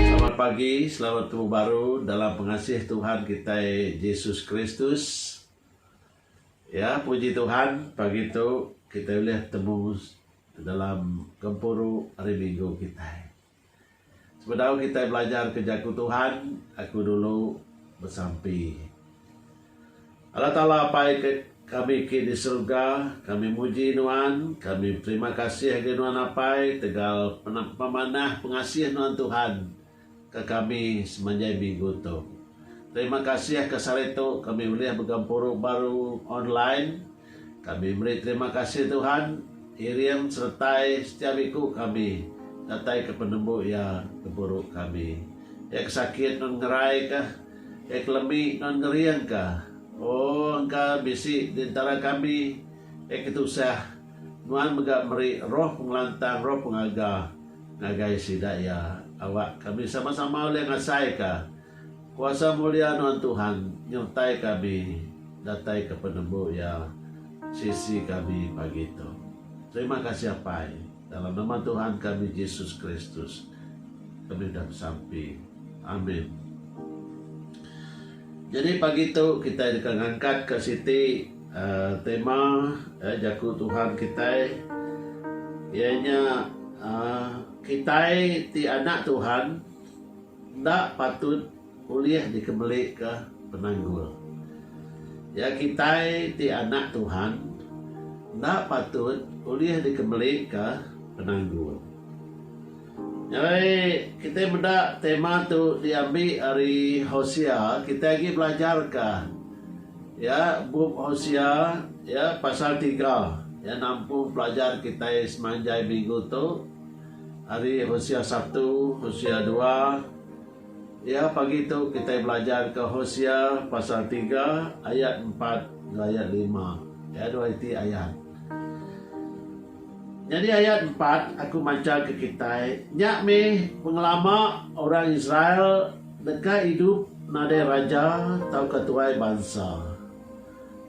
Selamat pagi, selamat betemu baru dalam pengasih Tuhan kitai Jesus Kristus. Ya, puji Tuhan pagi tu kitai ulih betemu dalam gempuru Hari Minggu kitai. Sebedau kitai belajarka Jaku Tuhan, aku dulu besampi, Allah Taala Apai kami ke di serega, kami muji Nuan, kami beterima kasih ngagai Nuan Apai tegal pemanah pengasih Nuan Tuhan ke kami semanjai minggu tu. Terima kasih ka sehari tu kami ulih begempuru baru online. Kami meri terima kasih Tuhan, iring seretai setiap iku kami dataika penembu iya gempuru kami. Iya ke sakit non ngeraika, iya ke lemi non ngeringka. O engka bisi di entara kami iya ke tusah, nuan mega meri roh pengelantang, roh pengaga ngagai sida iya, awak kami sama-sama ulih ngasaika. Kuasa mulia nuan Tuhan nyertai kami datai ke penembu iya sisi kami pagi tu. Terima kasih Apai, dalam nama Tuhan kami Jesus Kristus kami udah besampi. Amin. Jadi pagi tu kitai deka ngangkatka siti uh, tema uh, jaku Tuhan kitai ianya uh, kitai ti anak Tuhan Enda patut ulih dikebelika penanggul. Ya kitai ti anak Tuhan enda patut ulih dikebelika penanggul. Nyadi kitai meda tema tu diambi ari Hosea, kitai agi belajarka ya bup Hosea ya pasal tiga ya nampung pelajar kitai semanjai minggu tu. Ari Hosea satu, Hosea dua, iya pagi tu kitai belajar ke Hosea pasal tiga ayat empat enggau ayat lima. Iya dua iti ayat. Nyadi ayat empat aku mancha ke kitai, nya mih pengelama orang Israel deka idup nadai raja tauka tuai bansa.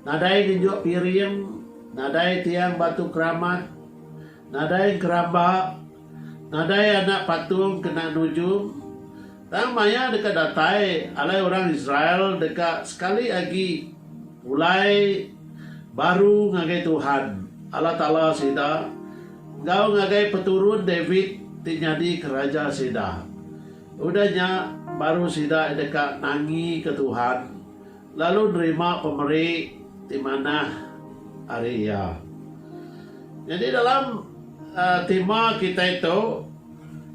Nadai ngenjuk piring, nadai tiang batu keramat, Nadai geramba, nadai anak patung kena nujung, tang maya deka datai alai orang Israel deka sekali agi pulai baru ngagai Tuhan, Allah Taala sida, enggau ngagai peturun David ti nyadika raja sida. Udah nya, baru sida deka nangika Tuhan. Lalu nerima pemeri ti manah ari Iya. Nyadi dalam tema kitai tu,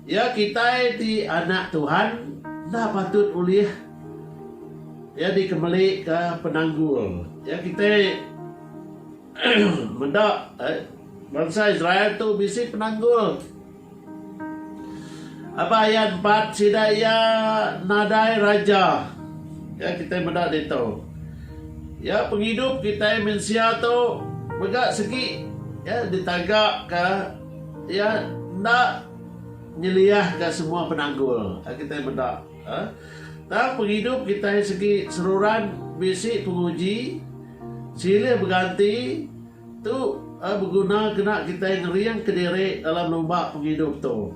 iya kitai ti anak Tuhan enda patut ulih iya dikemelika penanggul. Iya kitai meda bansa Israel tu bisi penanggul. Aba ayat empat, sida iya nadai raja. Ya kitai meda ditu. Ya pengidup kitai mensia tu mega segi ya ditaga ka ya enda nyeliah ka semua penanggul ya kitai meda eh tang pengidup kitai segi seruran bisi penguji silih beganti Tu beguna kena kitai ngering kediri dalam lumba pengidup tu.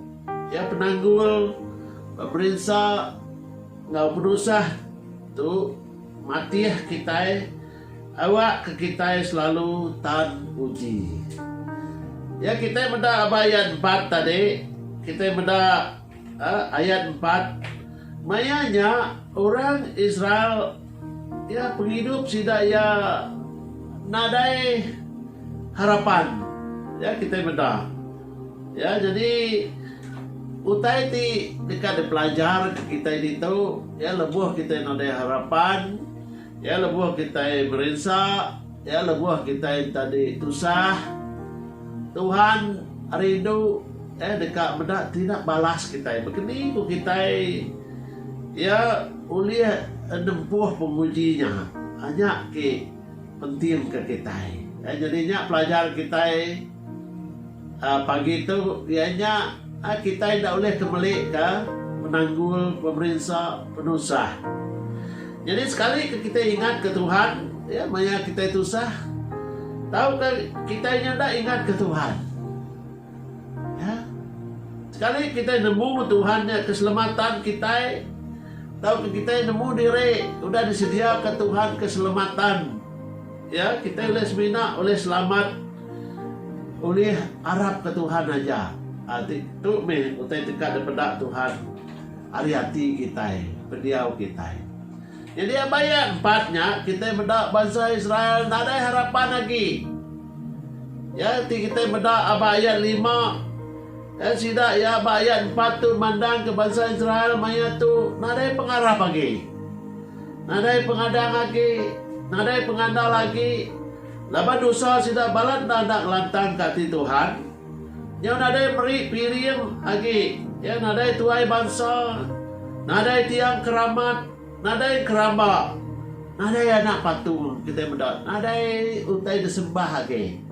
Iya penanggul berinsa enggau penusah tu matih kitai awak ke kitai selalu tan uji. Ya kitai meda aba iya debat tadi kitai meda. Ayat empat, Maya nya orang Israel iya pengidup sida iya nadai harapan. Ya kitai meda. Ya jadi utai ti deka dipelajar ke kitai ditu ya lebuh kitai nadai harapan. Iya lebuh kitai berinsa, iya lebuh kitai enta di tusah, Tuhan rindu Iya deka meda tina balas kitai. Bekeni ku kitai Iya ulih nempuh penguji nya. Nya ke pentingka kitai. Nyadi nya pelajar kitai. Pagi tu iya nya kitai enda ulih ke meli ka penanggul pemerinsa penusah. Nyadi sekali ke kitai ingat ka Tuhan iya maya kitai tusah tau ka kitai nya enda ingat ka Tuhan. Iya sekali kitai nemu Tuhan nya keselamatan kitai tau ka kitai nemu diri udah disedia ka Tuhan keselamatan iya kitai ulih semina ulih selamat. Ulih arap ke Tuhan aja. A ti tu meh utai teka dipeda Tuhan ari ati kitai, pendiau kitai. Nyadi aba iya empat nya kitai meda bansa Israel nadai harapan agi. Iya ti kitai meda aba ayat lima ya sida iya aba ayat empat tu mandangka bansa Israel maya tu nadai pengarap agi. Nadai pengadang agi, nadai pengandal agi. Laban dosa sida balat enda enda ngelantangka ati Tuhan, nyau nadai meri piring agi iya nadai tuai bansa, nadai tiang ke ramat, nadai enkeramba, nadai anak patung kitai meda, nadai utai disembah agi.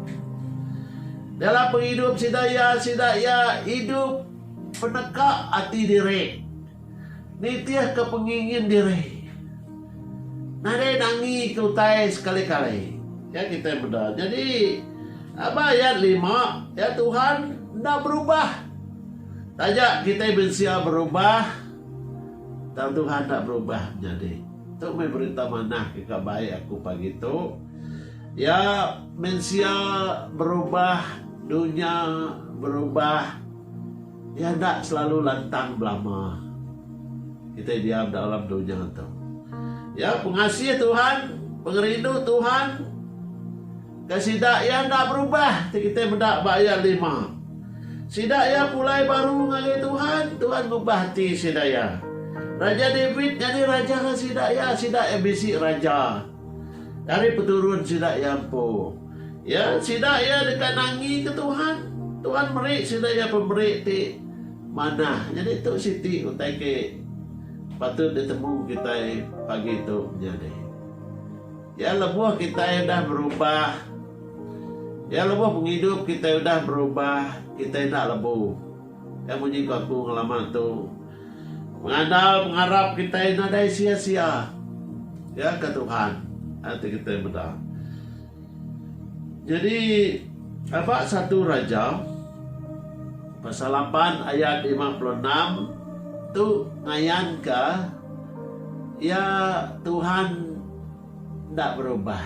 Dalam pengidup sida iya sida iya idup peneka ati diri. Nitihka pengingin diri. Nadai nangika utai sekali-kali. Nya kitai meda. Nyadi, aba ayat lima, iya Tuhan enda berubah. Taja kitai mensia berubah, tang Tuhan enda berubah menyadi. Tu meh berita manah ke ka baik aku pagi tu. Iya mensia berubah, dunya berubah. Iya enda selalu lantang belama. Kitai diam dalam dunya tu. Ya, pengasih Tuhan, pengerindu Tuhan ke sida iya enda berubah ti kitai meda ba ayat lima. Sida iya pulai baru ngagai Tuhan, Tuhan ngubah ati sida iya. Raja David nyadi raja ngan sida iya, sida iya bisi raja. Ari peturun sida iya empu. Iya sida iya deka nangika Tuhan. Tuhan meri sida iya pemeri ti manah. Nyadi tu siti utai ke patut ditemu kitai pagi tu menyadi. Iya lebuh kitai udah berubah, iya lebuh pengidup kitai udah berubah, kitai enda lebu. Iya munyi ku aku ngelama tu. Mengada pengarap kitai nadai sia-sia. Ya ke Tuhan? Ati kitai meda. Nyadi aba satu Raja pasal lapan ayat lima puluh enam tu ngayanka iya Tuhan Enda berubah.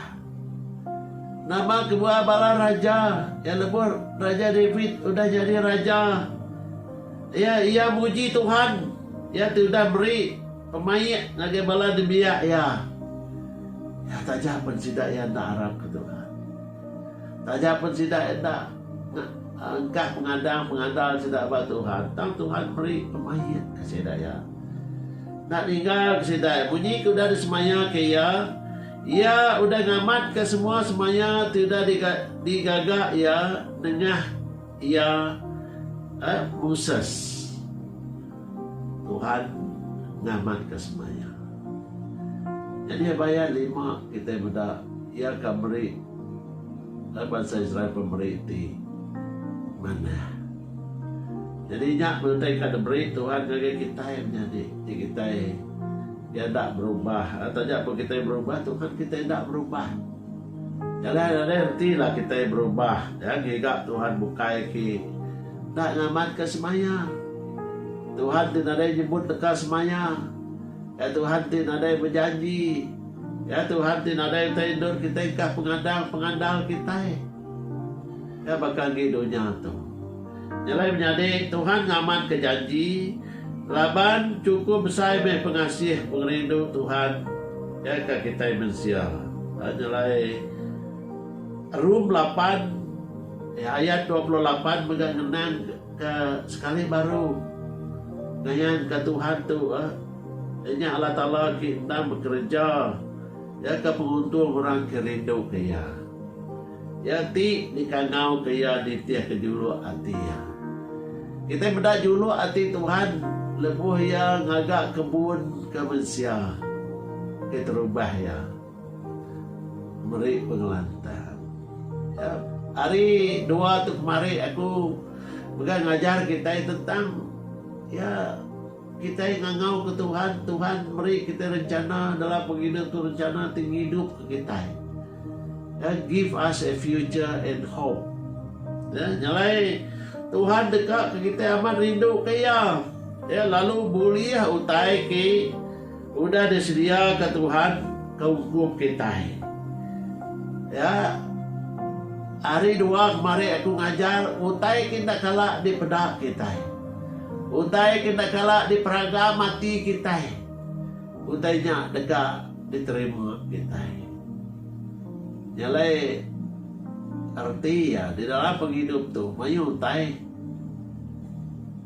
Nama kebuah bala raja ke lebuh Raja David udah nyadi raja? Iya iya muji Tuhan, iya ti udah meri pemaik ngagai bala nembiak iya. Iya taja pen sida iya enda arapka Tuhan. Taja pen sida enda engkah pengadang pengandal sida ba Tuhan, tang Tuhan meri pemaikka sida Iya. Enda ninggalka sida Iya. Munyi ke udah disemaikka Iya, Iya udah ngamatka semua semaya ti udah digaga Iya nengah Iya eh Moses. Tuhan ngamat ka semaya. Nyadi abai iya lima kitai meda iya ka meri eh bansa Israel pemeri ti manah. Nyadi nya benda ka diberi Tuhan ngagai kitai menyadi ti kitai enda berubah eh taja pun kitai berubah Tuhan kitai enda berubah. Jalai nadai reti lah kitai berubah ya ngiga Tuhan bukai ki enda ngamat ka semaya. Tuhan ti nadai nyebut deka semaya ya Tuhan ti nadai bejanji ya Tuhan ti nadai utai endur kitai engkah pengandal pengandal kitai ya baka ngi dunya tu. Nyelai menyadi, Tuhan ngamanka janji laban chukup besai meh pengasih pengerindu Tuhan ke ka kitai mensia. Nyelai Rum lapan ayat dua puluh lapan mega ngenangka sekali baru ngayanka Tuhan tu nya Allah Taala ke endang bekereja, Iya ke penguntung orang ke rinduka Iya. Iya ti dikangauka iya nitihka juluk ati iya. Kitai meda juluk ati Tuhan lebuh iya ngaga kebun ke mensia ke terubah iya meri pengelantang. Ya, hari dua tu kemari aku mega ngajar kitai tentang ya Kitai ngangau ke Tuhan, Tuhan meri kitai rencana dalam pengina tu rencana ti ngidup ke kitai. Ya, give us a future and hope. Ya, nyalai Tuhan deka ke kitai amat rindu ke Iya. Ya, lalu bulih utai ke Udah disediaka Tuhan ke ukum kitai. Ya, hari dua kemari aku ngajar utai ke enda kala dipeda kitai. Utai ke enda kala diperagam ati kitai. Utai nya deka diterima kitai. Nya alai reti iya di dalam pengidup tu mayuh utai.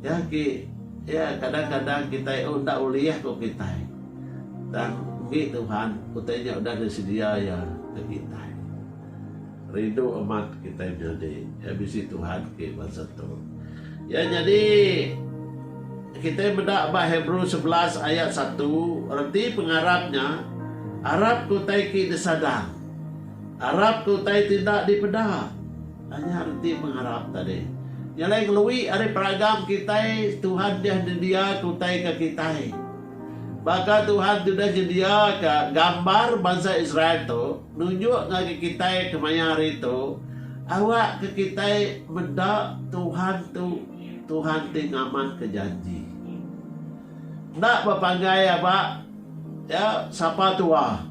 Ya, ki. Ya, kadang-kadang kitai enda ulih ku kitai. Tang enggi Tuhan, utai nya udah disedia Iya ke kitai. Rindu amat kitai menyadi iya bisi Tuhan ke bansa tu. Ya nyadi, kitai meda ba Hebrew sebelas ayat satu, reti pengarap nya, Arap ke utai ke disadang, arap ke utai ti enda dipeda. Hanya reti pengarap tadi. Nya alai ngelui ari peragam kitai Tuhan deh nyendiaka utai ke kitai. Baka Tuhan ti udah nyendiaka gambar bansa Israel tu nunjuk ngagai kitai kemaya hari tu awakka kitai meda Tuhan tu Tuhan ti ngamanka janji. Enda bepanggai aba iya sapa tua.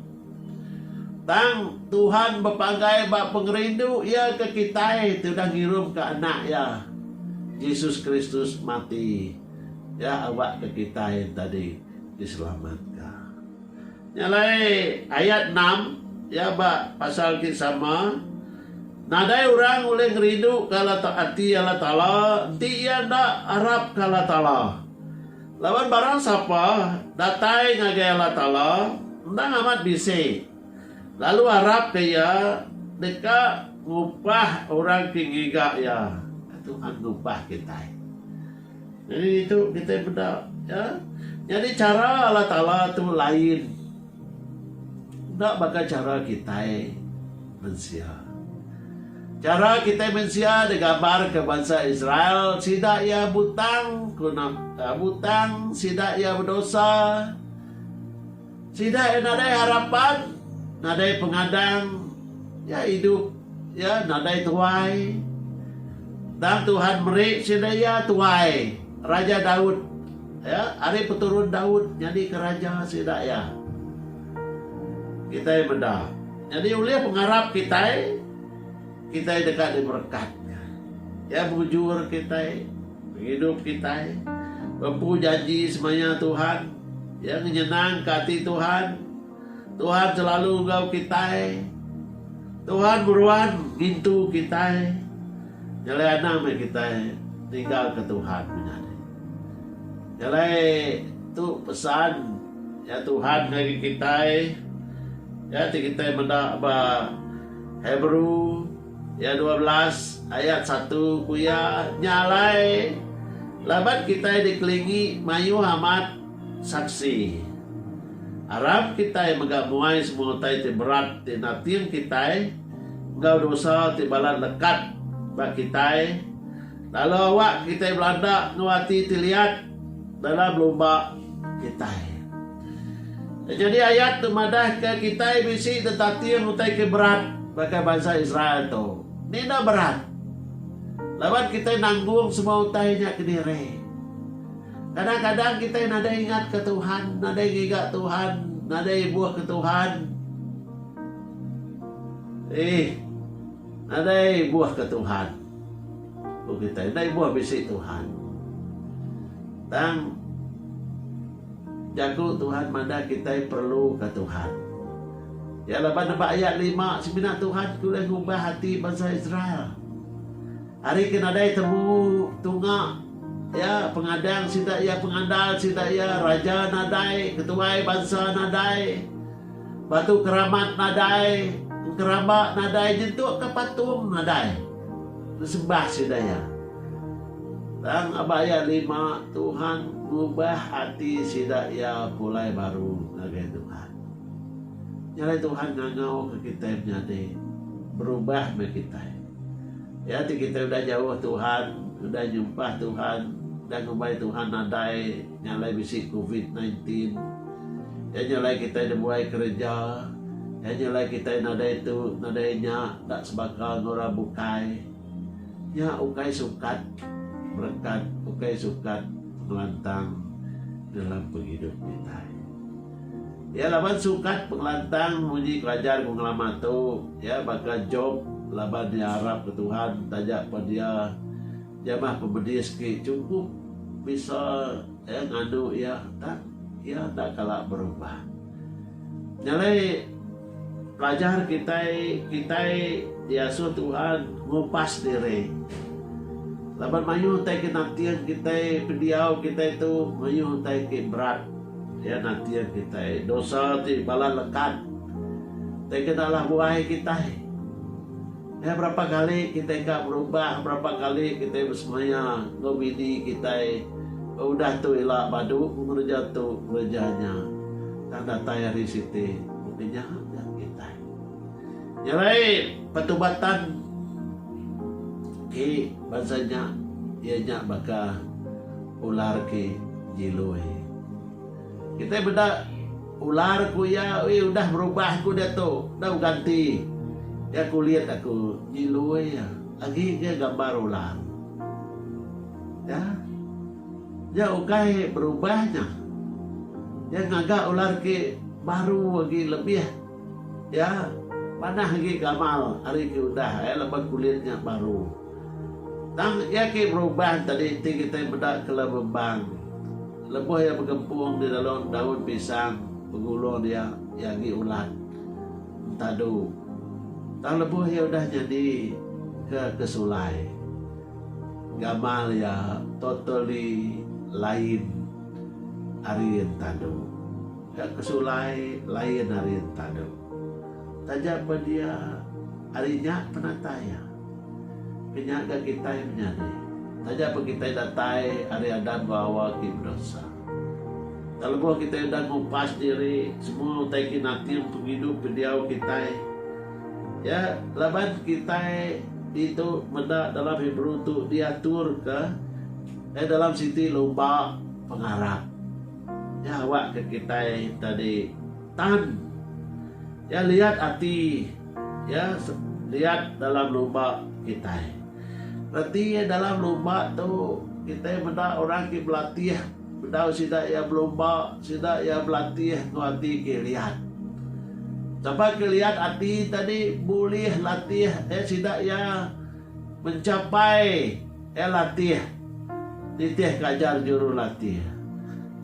Tang, Tuhan bepanggai ba pengerindu Iya ke kitai ti udah ngirumka Anak Iya, Jesus Kristus, mati. Iya awakka kitai tadi diselamatka. Nya alai ayat enam iya ba pasal ti sama, Nadai orang ulih ngerinduka Allah ati Allah Taala enti iya enda arapka Allah Taala. Laban barang sapa datai ngagai Allah Taala endang amat bisi, lalu arap ke Iya deka ngubah orang ke ngiga Iya, Tuhan ngubah kitai. Jadi ditu kitai meda, ya. Nyadi chara Allah Taala tu lain. Enda baka chara kitai mensia. Chara kitai mensia digambarka bansa Israel, sida iya butang ku na, butang, sida iya bedosa. Sida iya nadai harapan, nadai pengadang, iya idup iya nadai tuai. Tang Tuhan meri sida iya tuai, Raja Daud. Iya ari peturun Daud nyadika raja sida iya. Kitai meda. Nyadi ulih pengarap kitai, kitai deka diberekat nya. Iya mujur kitai, pengidup kitai, bempu janji semaya Tuhan, iya ngenyenangka ati Tuhan. Tuhan selalu enggau kitai. Tuhan meruan ngintu kitai. Nyelai anang meh kitai ninggalka Tuhan menyadi. Jalai tu pesan ya Tuhan ngagai kitai. Ya ti kitai meda ba Hebrew ya dua belas ayat satu ku iya, nya alai laban kitai dikelingi mayuh amat saksi. Arap kitai mega muai semua utai ti berat ti nating kitai enggau dosa ti balat lekat ba kitai. Lalu awak kitai belanda enggau ati ti liat dalam lumba kitai. Nyadi ayat tu madahka kitai bisi tetating utai ke berat baka bansa Israel tu. Ni enda berat. Laban kitai nanggung semua utai nya kediri. Kadang-kadang kitai nadai ingatka Tuhan, nadai ngiga Tuhan, nadai ibuhka Tuhan. Ih. Nadai ibuhka Tuhan. Ku kitai, Dai buah bisi Tuhan. Tang, jaku Tuhan madah kitai perluka Tuhan. Iya laban nebak ayat lima, semina Tuhan ke ulih ngubah ati bansa Israel. Ari ke nadai temu tunga Iya, pengadang sida iya, pengandal sida iya, raja nadai, ketuai bansa nadai, Batu keramat nadai, engkeramba nadai nyentukka patung nadai nesembah sida iya. Tang aba iya nerima, Tuhan ngubah ati sida iya pulai baru ngagai Tuhan. Nya alai Tuhan ngangauka kitai menyadi, berubah meh kitai. Iya ti kitai udah jauh Tuhan, udah nyumpah Tuhan, udah ngumbai Tuhan nadai, Nya alai bisi covid nine tin. Nya nya alai kitai dibuai kereja. Nya nya alai kitai nadai tu, nadai nya, enda sebaka enggau orang bukai. Nya ukai sukat berekat, ukai sukat pengelantang dalam pengidup kitai. Iya laban sukat pengelantang munyi pelajar pengelama tu, iya baka Jop laban iya arapka Tuhan taja pen iya Jamah pemedis ke chunkup bisa iya nganu iya tak iya enda kala berubah. Nyalai pelajar kitai kitai diasuh Tuhan ngupas diri. Laban mayuh utai ke nating kitai pendiau kitai tu mayuh utai ke berat iya nating kitai. Dosa ti bala lekat. Utai ke enda alah buai kitai. Nya berapa kali kitai ka berubah berapa kali kitai besemaya enggau bini kitai udah tu ila badu ku ngereja tu ngereja nya tang datai hari siti baka nya ga kitai. Nya alai pertubatan ki bansa nya iya nya baka ular ki jiloi. Kitai meda. Ular ku iya, ui udah berubah aku diatu, dau ganti. Iya kulit aku nyilui iya, agi ga gambar ular. Ya, nya ukai berubah nya. Iya ngaga ular ki baru agi lebih ya panah agi gamal ari ki udah ai laban kulit nya baru. Tang iya agi berubah enta di enti kitai meda kela bebang. Lebuh iya begempung di dalau daun pisang, begulung dia, iya agi ulat, entadu. Tang lebuh iya udah nyadi ke ke sulai, gamal iya totally lain ari entadu. Ke ke sulai lain ari entadu. Taja pen iya ari nya penatai iya. Ke nya ga kitai menyadi. Taja pun kitai datai ari adat bawa ke bedosa. Tang lebuh kitai udah ngupas diri, semua utai ke nating pengidup ke diau kitai, ya, laban kitai ditu meda dalam Hebrew tu diatur ke eh dalam siti lumba pengarap. Ya awak ke kitai tadi tan ya liat ati. Iya liat dalam lumba kitai. Reti iya dalam lumba tu, kitai meda orang ke belatih bedau sida iya belumba, sida iya belatih enggau ati ke liat. Sapa ke liat ati tadi bulih latih eh sida iya mencapai eh latih nitihka ajar jurulatih.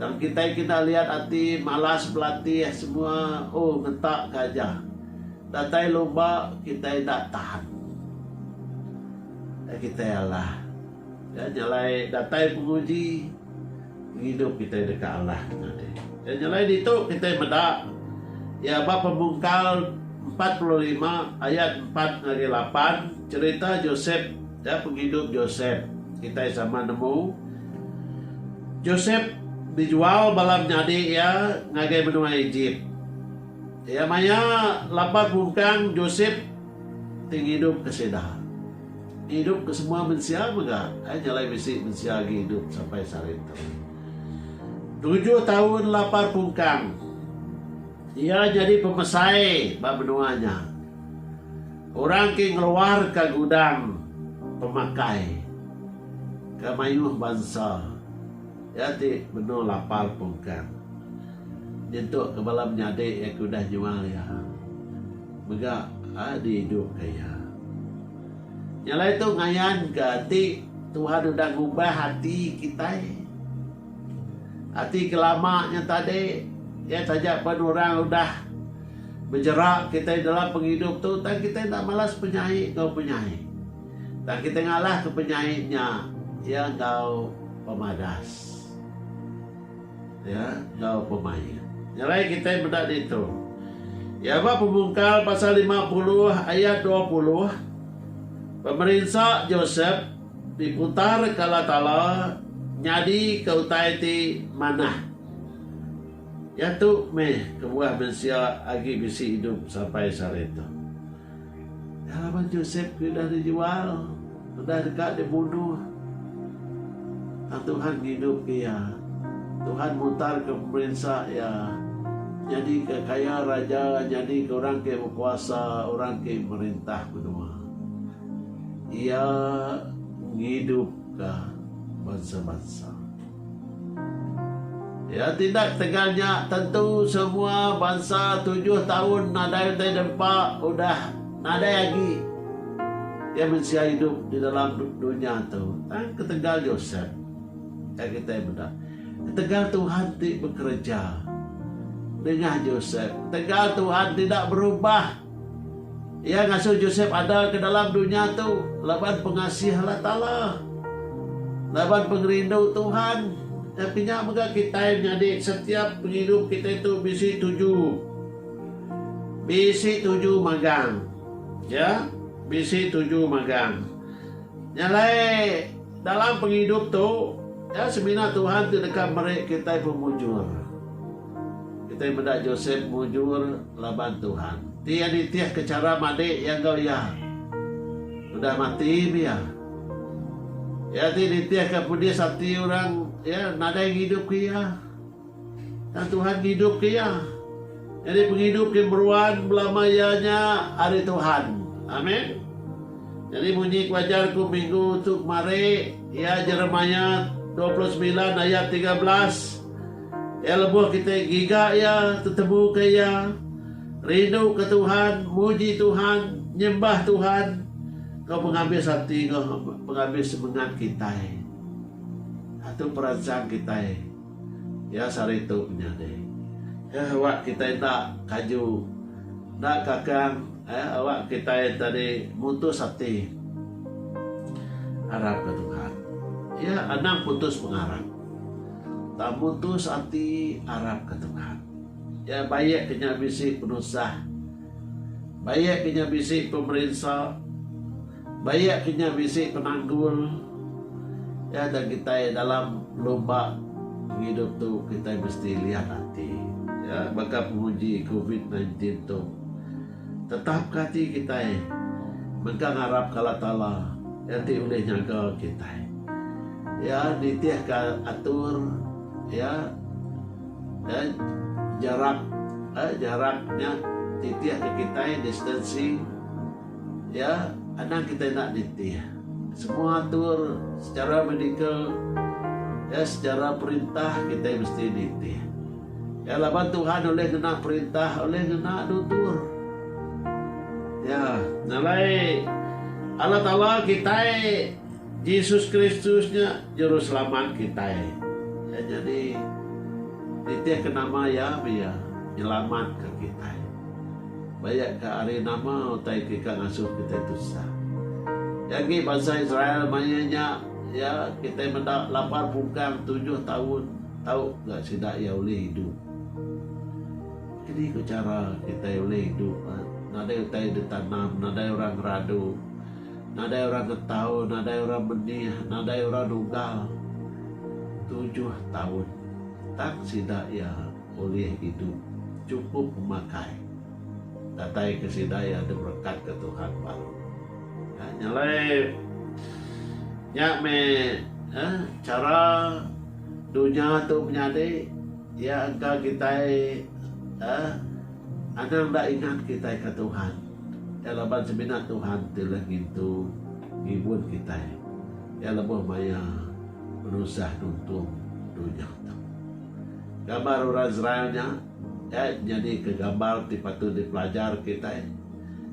Tang kitai kena liat ati malas belatih semua oh ngentak ke aja. Datai luba kitai enda tahan. Ai kitai alah. Nya nyelai datai penguji pengidup kitai deka alah ke tadi. Nya nyelai ditu kitai meda iya ba Pemungkal empat puluh lima ayat empat ngagai lapan cherita Josep ya pengidup Josep. Kitai sama nemu Josep dijual bala menyadi iya ngagai menua Ejip. Iya maya laban mungkang Josep ti ngidup ke sida. Ngidup ke semua mensia mega ai nya alai bisi mensia agi idup sampai sehari tu. Tujuh taun lapar pungkang iya nyadi pemesai ba menua nya. Orang ke ngeluar ka gudang pemakai ke mayuh bansa iya ti benung lapar pungkang. Nyentuk ke bala menyadi iya ke udah nyual iya mega diidupka iya. Nya alai tu ngayanka ati Tuhan udah ngubah ati kitai. Ati ke lama nya tadi iya taja pen orang udah bejera kitai dalam pengidup tu tang kitai enda malas penyai enggau penyai. Tang kitai ngalahka penyai nya iya enggau pemadas. Iya enggau pemaya. Ngerai kitai meda ditu. Iya ba Pemungkal pasal lima puluh ayat dua puluh, Pemerinsa Josep diputarka Allah Taala nyadika utai ti manah. Iya tu meh kebuah mensia agi bisi idup sampai sehari tu. Laban Josep ke udah dijual, udah deka dibunuh, tang Tuhan ngidupka iya. Tuhan mutarka pemerinsa iya, nyadika kaya raja, nyadika orang ke bekuasa, orang ke merintah menua. Iya ngidupka bansa-bansa. Iya tindak tegal nya tentu semua bansa tujuh taun nadai utai dempa udah nadai agi iya mensia idup di dalam dunya tu. Tang ketegal Josep ka kitai meda. Ketegal Tuhan ti bekereja nengah Josep. Ketegal Tuhan tidak berubah. Iya ngasuh Josep ada ke dalam dunya tu laban pengasih Allah Taala. Laban pengerindu Tuhan, nya pinya mega kitai nyadi setiap pengidup kitai tu bisi tuju. Bisi tuju magang. Ya, bisi tuju magang. Nya alai dalam pengidup tu, ya semina Tuhan ti deka meri kitai pemujur. Kitai meda Josep mujur laban Tuhan. Ti iya nitihka chara madik iya enggau iya udah mati mih iya. Iya ti nitihka pedis ati orang iya nadai ngidupka iya. Tang Tuhan ngidupka iya. Nyadi pengidup ke meruan belama iya nya ari Tuhan. Amen. Nyadi munyi ku ajar ku minggu tu kemari iya Jeremiah dua puluh semilan ayat tiga belas. Iya lebuh kitai giga Iya, tetemuka Iya, rinduka Tuhan, muji Tuhan, nyembah Tuhan enggau pengabis ati enggau pengabis semengat kitai. Nah, tu peransang kitai. Iya sehari tu menyadi. Eh, awak kitai enda kaju, enda kakang, eh, awak kitai tadi mutus ati ngarapka Tuhan. Iya anang putus pengarap. Tang mutus ati arapka Tuhan. Iya baik ke nya bisi penusah. Baik ke nya bisi pemerinsa. Baik ke nya bisi penanggul. Iya dah kitai dalam lumba pengidup tu kitai mesti liat ati. Iya baka penguji covid nineteen tu. Tetapka ati kitai mega ngarap ke Allah Taala enti ulih nyaga kitai. Iya nitihka atur Iya eh jarak eh jarak nya nitihka kitai distancing Iya anang kitai enda nitih. Semua atur secara medical eh secara perintah kitai mesti nitih. Nya laban Tuhan ulih ngena perintah, ulih ngena nutur. Ya, nya alai Allah Taala kitai, Jesus Kristus nya Juruselamat kitai. Iya nya di nitihka nama Iya meh Iya nyelamatka kitai. Ba iya ka ari nama utai ke ka ngasuh kitai tusah. Iya agi bansa Israel mayuh nya, ya, kitai meda lapar pungkang tujuh taun. Tau ga sida iya ulih idup. Kadi ko chara kitai ulih idup nadai utai ditanam, nadai orang ngeradu, nadai orang ngetau, nadai orang menih, nadai orang nugal tujuh taun tang sida iya ulih idup chukup pemakai datai ke sida iya diberekat ke Tuhan baru. Nya nya alai nya meh chara. Dunya tu menyadi iya engka kitai eh anang enda ingat kitai ka Tuhan. Iya laban semina Tuhan ti ulih ngintu ngibun kitai. Iya lebuh maya penusah nuntung dunya tu. Gambar orang Israel nya dai nyadika gambar ti patut dipelajar kitai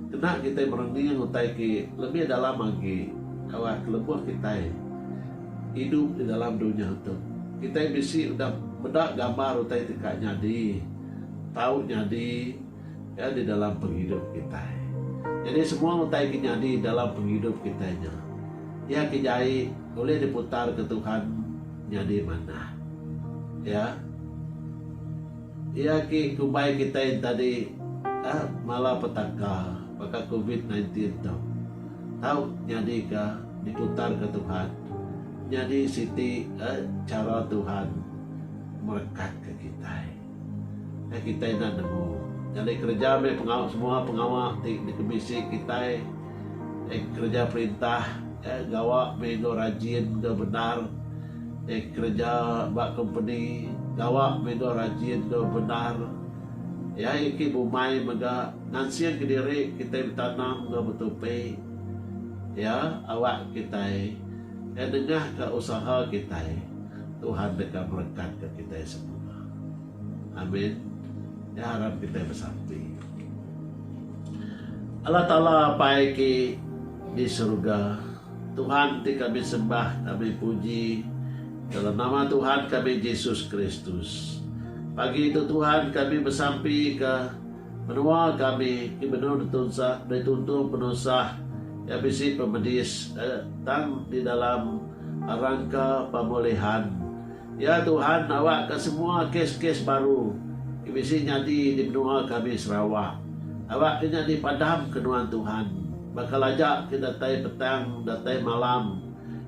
kena kitai merening utai ke lebih dalam agi ba lebuh kitai. Idup di dalam dunya tu, kitai bisi udah meda gambar utai ti ka nyadi, tau nyadi iya di dalam pengidup kitai. Nyadi semua utai ke nyadi dalam pengidup kitai nya, iya ke jai ulih diputarka Tuhan nyadi manah. Iya iya ke kumbai kitai enti tadi malapetaka baka covid nineteen tu tau nyadika. Dikutanka Tuhan nyadi siti chara Tuhan merekatka kitai. Kai kitai enda nemu. Nyadi kereja meh pengawa semua pengawa ti dikebisi kitai eh kereja perintah eh gawa meh enggau rajin enggau bendar eh kereja ba kompeni gawa meh enggau rajin enggau bendar iya eki bumai mega ngansingka diri kitai betanam enggau betupi. Iya awak kitai ngai nengah ka usaha kitai. Tuhan deka berekat ka kitai semua. Amin. Nya aram kitai besampi. Allah Taala Apai ki di serga. Tuhan ti kami sembah kami puji dalam nama Tuhan kami Jesus Kristus. Pagi tu Tuhan kami besampi ka. Menua kami ti benung ditunsak dituntung penusah iya bisi pemedis tang di dalam rangka pemulihan. Ya Tuhan nawakka semua kes-kes baru ti bisi nyadi di menua kami Sarawak. Awakka nya dipadamka nuan Tuhan. Bakal aja ke datai petang datai malam.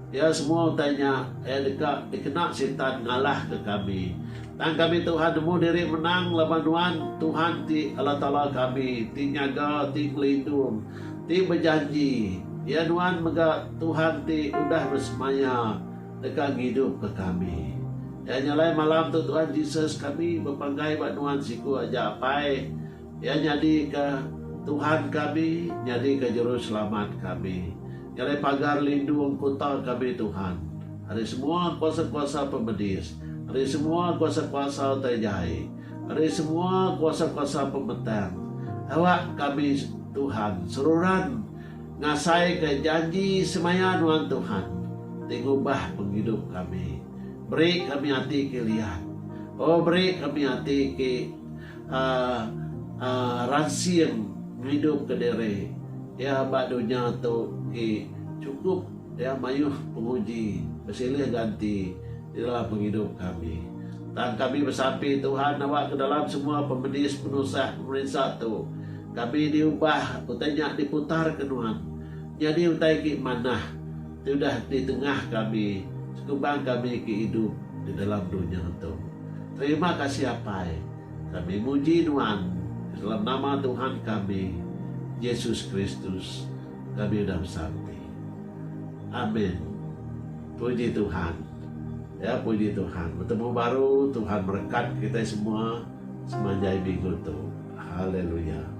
Iya semua utai nya iya deka dikena Sitan ngalahka kami. Tang kami Tuhan nemu diri menang laban Nuan, Tuhan ti Allah Taala kami, ti nyaga, ti ngelindung, ti bejanji. Iya Nuan mega Tuhan ti udah besemaya deka ngidupka kami. Iya nya alai malam tu Tuhan Jesus kami bepanggai ba Nuan siku aja Apai. Iya nyadika Tuhan kami, nyadika Juruselamat kami. Ngalih pagar lindung kuta kami Tuhan, ari semua kuasa-kuasa pemedis, ari semua kuasa-kuasa utai jai, ari semua kuasa-kuasa pemetang. Awak kami, Tuhan, seruran ngasaika janji semaya nuan Tuhan ti ngubah pengidup kami. Beri kami ati ke liat. Oh, beri kami ati ke. Aa aa ransing ngidup ke diri iya ba dunya tu agi chukup iya mayuh penguji besilih ganti di dalam pengidup kami. Tang kami besampi Tuhan nawa ke dalam semua pemedis penusah pemerinsa tu kami diubah utai nya diputar ke nuan nyadi utai agi manah ti udah ditengah kami sekubang kami ke idup di dalam dunya tu. Terima kasih Apai, kami muji Nuan di dalam nama Tuhan kami, Yesus Kristus, kami udah besanti. Amin. Puji Tuhan. Ya, puji Tuhan. Betemu baru, Tuhan merekat kitai semua semanjai minggu tu. Haleluya.